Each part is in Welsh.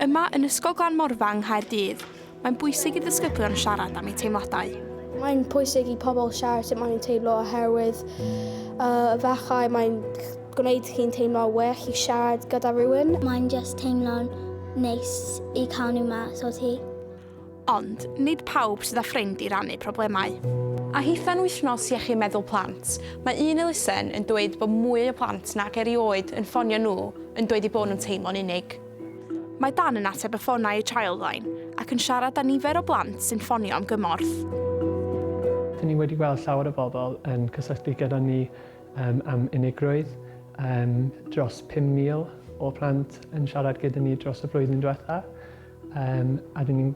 Yma yn Ysgol Glan Morfa yng Nghaerdydd, mae'n bwysig i ddisgyblion siarad am eu teimladau. Mae'n pwysig i pobl siarad sut maen nhw'n teimlo oherwydd uh, efallai mae'n gwneud chi'n teimlo well i siarad gyda rhywun. Mae'n just teimlo'n neis i cael nhw mas o ti. Ond, nid pawb sydd â ffrind i rannu problemau. A hithau'n Wythnos Iechyd Meddwl Plant, mae un elusen yn dweud bod mwy o blant nag erioed yn ffonio nhw yn dweud eu bod nhw'n teimlo'n unig. Mae Dan yn ateb y ffonau i Childline ac yn siarad â nifer o blant sy'n ffonio am gymorth. Dyn ni wedi gweld llawer o bobl yn cysylltu gyda ni am unigrwydd. Dros 5,000 o blant yn siarad gyda ni dros y flwyddyn diwetha'. Um, a dyn ni'n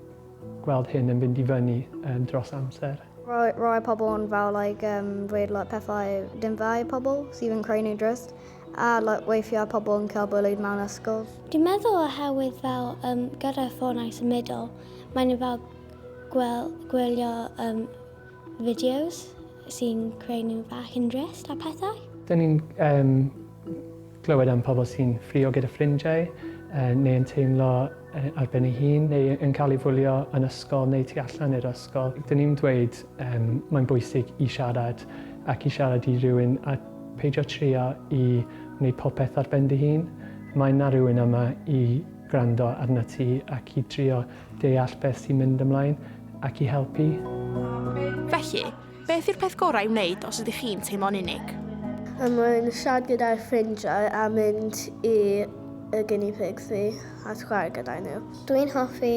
gweld hyn yn fynd i fyny um, dros amser. Roi, roi pobl yn fel like, um, dweud like, pethau dim dda i pobl sydd yn creu nhw'n drist a like, weithiau pobl yn cael bwyd mewn ysgol. Dwi'n meddwl oherwydd fel um, gyda ffonau symudol, mae'n fel gwel, gwylio um, fideos sy'n creu nhw fach yn drist a pethau. Dyn ni'n um, Clywed am pobl sy'n ffrio gyda ffrindiau, neu yn teimlo ar ben ei hun, neu yn cael ei fwlio yn ysgol neu tu allan i'r ysgol. Dyn ni'n dweud mae'n bwysig i siarad ac i siarad i rywun a peidio trio i wneud popeth ar ben dy hun. Mae 'na rywun yma i gwrando arnat ti ac i drio deall beth sy'n mynd ymlaen ac i helpu. Felly, Beth yw'r peth gorau i'w wneud os ydych chi'n teimlo'n unig? Er mwyn siarad gyda'r ffrindiau a mynd i y guinea pigs fi a chwarae gyda'i nhw. Dwi'n hoffi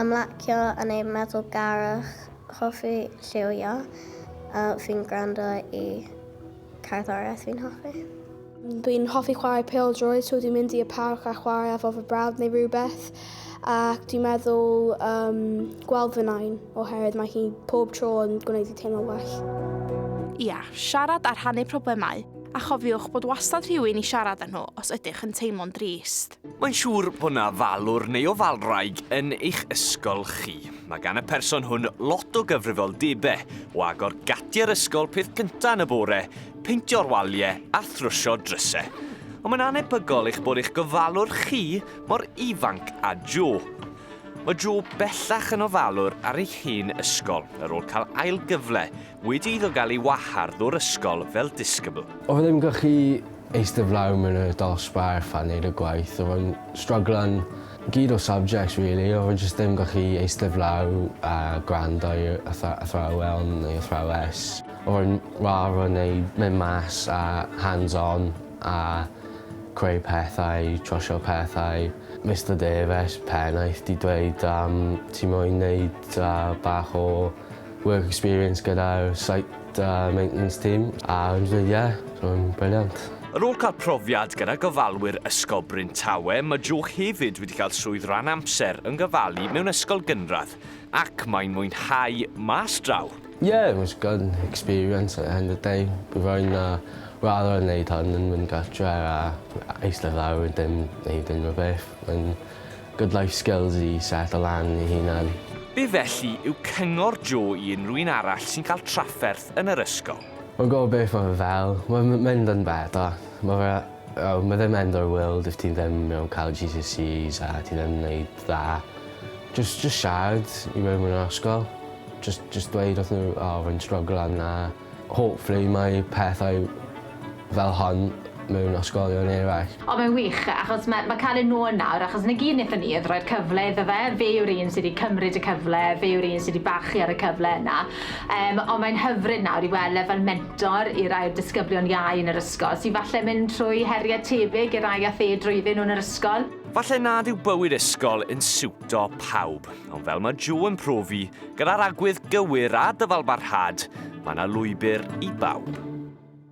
ymlacio a neud meddwl garwch, hoffi lliwio a fi'n gwrando i Cerddoriaeth fi'n hoffi. Dwi'n hoffi chwarae pêl droed, so dwi'n mynd i y parc a chwarae efo fy brawd neu rhywbeth. Ac dwi'n meddwl um, gweld fy nain, oherwydd mae hi pob tro yn gwneud i teimlo well. Ia, siarad a rhannu problemau, a chofiwch bod wastad rhywun i siarad â nhw os ydych yn teimlo'n drist. Mae'n siŵr bod yna falwr neu o falwraig yn eich ysgol chi. Mae gan y person hwn lot o gyfrifoldebau, o agor gatiau'r ysgol peth cyntaf yn y bore, peintio'r waliau a thrwsio drysau. Ond mae'n anebygol eich bod eich gofalwr chi mor ifanc a Joe. Mae Joe bellach yn ofalwr ar ei hen ysgol ar ôl cael ail gyfle Wedi iddo gael ei wahardd o'r ysgol fel disgybl. Oedd ddim yn gallu eistedd lawr mewn y dosbarth a neud y gwaith, oedd o'n stryglan gyd o subjects rili, oedd e jyst ddim gallu eistedd lawr a gwrando i atha- athrawon neu athrawes. Oedd e'n rhad o neud mynd mas a hands on a creu pethau, trwsio pethau. Mister Davies, pennaeth, 'di dweud yym ti moyn neud yy bach o Work experience gyda'r site a maintenance team a yn ddyddie, ro'n brilliant. Ar ôl cael profiad gyda gofalwyr Ysgol Bryn Tawe, mae Jo hefyd wedi cael swydd ran amser yn gofalu mewn ysgol gynradd ac mae'n mwynhau mas draw. Yeah, it was good experience at the end of the day. Bydd rhaid na raddau yn neud hwn yn mynd gartre a eistedd lawr a dim neud unrhyw beth. Mae'n Good life skills i setlo lan ei hunan. Be felly yw cyngor Jo i unrhyw un arall sy'n cael trafferth yn yr ysgol? Mae'n gwybod beth mae fe fel. Mae'n mynd yn better. Mae fe... oh, mae ddim end o'r world if ti ddim you know, cael GCSEs a ti ddim yn wneud dda. Jyst, jyst siarad i rywun yn yr ysgol. Jyst, jyst dweud wrthyn nhw, oh, rwy'n stryglo yn 'na. Hopefully mae pethau fel hon mewn ysgolion eraill. O mae'n wych achos ma ma cael e nôl nawr achos na gyd nethon ni oedd roi'r cyfle iddo fe, fe yw'r un sy di cymryd y cyfle, fe yw'r un sy di bachu ar y cyfle yna yym ond mae'n hyfryd nawr i wel e fel mentor i rai'r disgyblion iau yn yr ysgol sy falle mynd trwy herie tebyg i rai ath e drwyddyn nhw yn yr ysgol. Falle nad yw bywyd ysgol yn siwtio Do pawb, ond fel mae Joe yn profi, gyda'r agwedd gywir a dyfalbarhad, mae yna lwybr i bawb.